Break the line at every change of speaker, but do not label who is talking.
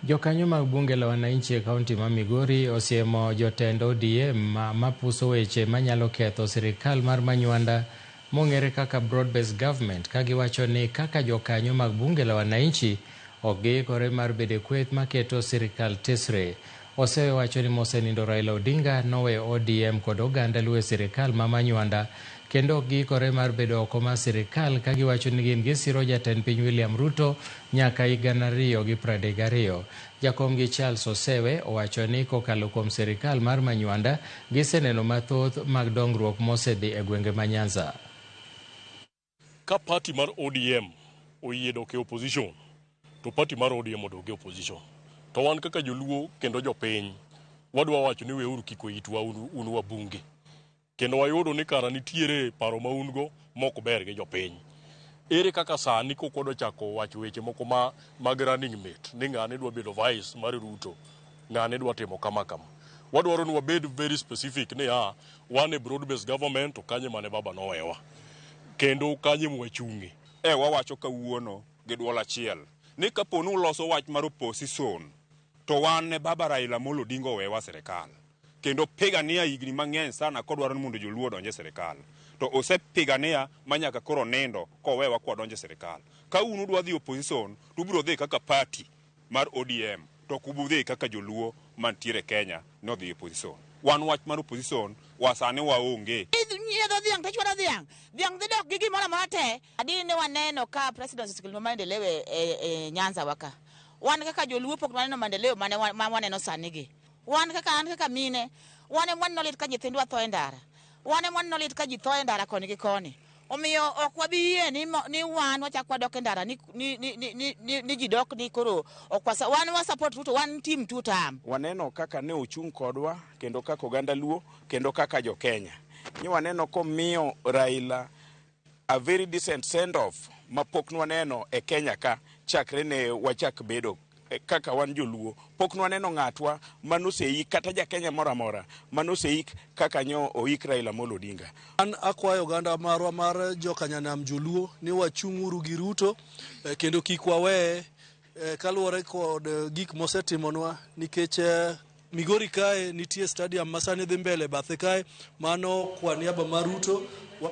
Jokanyo mag bunge la wananchi e kaunti ma Migori osiemo jotend ODM mapuso weche manyalo ketho sirikal mar Manywanda mong'ere kaka Broad Based Government ka giwacho ni kaka jokanyo mag bunge la wananchi ok giikore mar bedo e kweth maketo sirikal tesre. Osewacho ni mosenindo Raila Odinga noweyo ODM kod oganda Luo e sirikal ma manywanda kendo ok giikore mar bedo oko mar sirikal ka giwacho ni gin gisiro jatend piny William Ruto nyaka hik gana ariyo gi pradek gariyo. Jakomgi Charles Osewe owacho ni kokalo kuom sirikal mar manywanda giseneno mathoth mag dongruok mosedhi e gwenge ma Nyanza.
Ka party mar ODM oyie dok e opposition to party mar ODM odog e opposition. To wan kaka joluo kendo jopiny wadwa wacho ni weuru kiko itwa un, un wabunge. Kendo wayudo ni kara nitiere paro ma un go mok ber gi jopiny. Ere kaka sani kok wadwa chako wacho weche moko ma mag running mate ni ng'ane dwa bedo vice mar Ruto? ng'ane dwa timo kama kama. Wadwaro ni wabed very specific ni a wan e broad based government to kanye mane baba nowewa kendo kanye mwachungi. E wawacho
kawuono gi dwol achiel ni kapo ni uloso wach mar opposition to wan ne baba Raila Amolo Odinga owewa serikal kendo pigania higni mang'eny sana kodwaro ni mondo joluo odonje serikal to osepigania manyaka koro nindo kowewa kwadonje serikal. Ka un udwa dhi opposition to ubiro dhi kaka party mar ODM to ok ubudhi kaka joluo mantiere Kenya nodhi opposition. Wan wach mar opposition wa sani waonge. Nyiedho dhiang' to chwado dhiang'.
Dhiang' dhi dok gi gimoro amora te. Adi ne waneno ka president osekelo maendeleo e, e, e Nyanza waka. Wan kaka joluo pok waneno maendeleo mane wa- ma waneno sani gi. Wan kaka an kaka mine, wan ema waneno lit ka nyithindwa tho e ndara. Wan ema waneno lit ka ji tho e ndara koni gi koni. Omiyo ok wabi yie ni, mo, ni wan wachak wadok e ndara ni, ni, ni, ni, ni, ni, ni ji dok ni koro ok wasa, wan wa support Ruto, wan team two term. Waneno kaka ne
ochung' kodwa kendo kaka oganda Luo kendo kaka jo Kenya. Ni waneno komiyo Raila A very decent send off ma pok nwaneno e Kenya ka chakre ne wachak bedo kaka wan joluo pok nwaneno ng'atwa manoseik kata jakenya moro amora manoseik kaka nyo oik Raila Amolo Odinga. An akwayo
oganda marwa mar jokanyanam joluo ni wachung' uru gi Ruto eh, kendo kik waweye eh, kaluwore kod eh, gik mosetimonwa nikech eh, Migori kae nitie stadium masani dhi mbele bathe kae mano kwa niaba mar Ruto wa